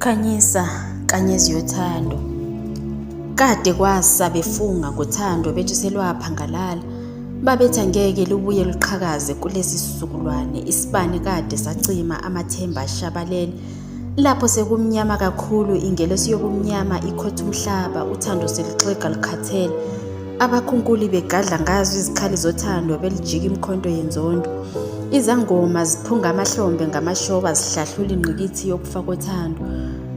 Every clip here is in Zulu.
Khanyisa kanyezi yothando kade kwasa befunga ngothando bethi selwaphangalala babethi angeke lubuye luqhakaze kulesi sizukulwane isibani kade sacima amathemba ashabalele Lapho sekumnyama kakhulu, ingelosi yobumnyama ikhotha umhlaba, uthando seluxega lukhathele. Abakhunkuli begadla ngazo izikhali zothando belijika imkhonto yenzondo. Izangoma ziphunga amahlombe ngamashoba zihlahlula ingqikithi yokufa kothando.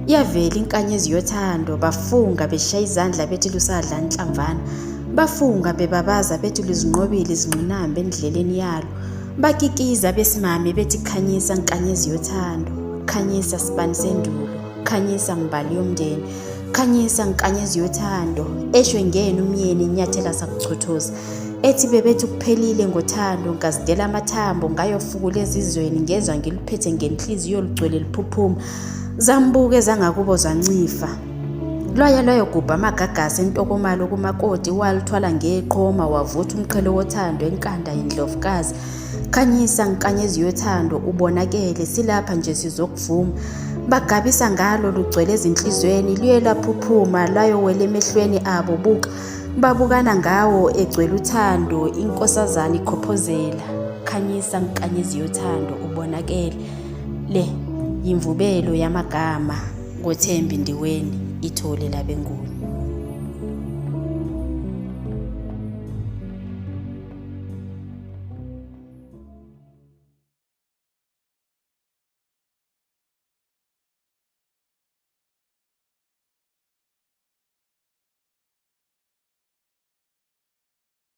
Iyavela inkanyezi yothando, bafunga beshaya izandla bethi lusadla inhlamvana. Bafunga bebabaza bethi luzinqobile izingqinamba endleleni yalo. Bakikiza besimame bethi khanyisa nkanyezi yothando, khanyisa sibani sendulo, khanyisa mbali yomndeni, khanyisa nkanyezi yothando, eshwe ngenu myeni inyathela sakuchothoza. Ethi bebethi kuphelile ngothando ngazidela amathambo ngayofukula ezizweni ngezwa ngiluphethe ngenhliziyo lugcwele liphuphuma. Zambuke zangakubo zancifa. Lwaye lwayogubha amagagasi entokomalo kumakoti waluthwala ngeqhoma wavutha umqhele wothando enkanda yindlovukazi khanyisa nkanyezi yothando ubonakele silapha nje sizokuvuma bagabisa ngalo lugcwele ezinhlizweni luye laphuphuma lwayowela emehlweni abo buka babukana ngawo egcwele uthando inkosazana ikhophozela khanyisa nkanyezi yothando ubonakele le yimvubelo yamagama Ngothembi Ndiweni, Ithole labeNguni.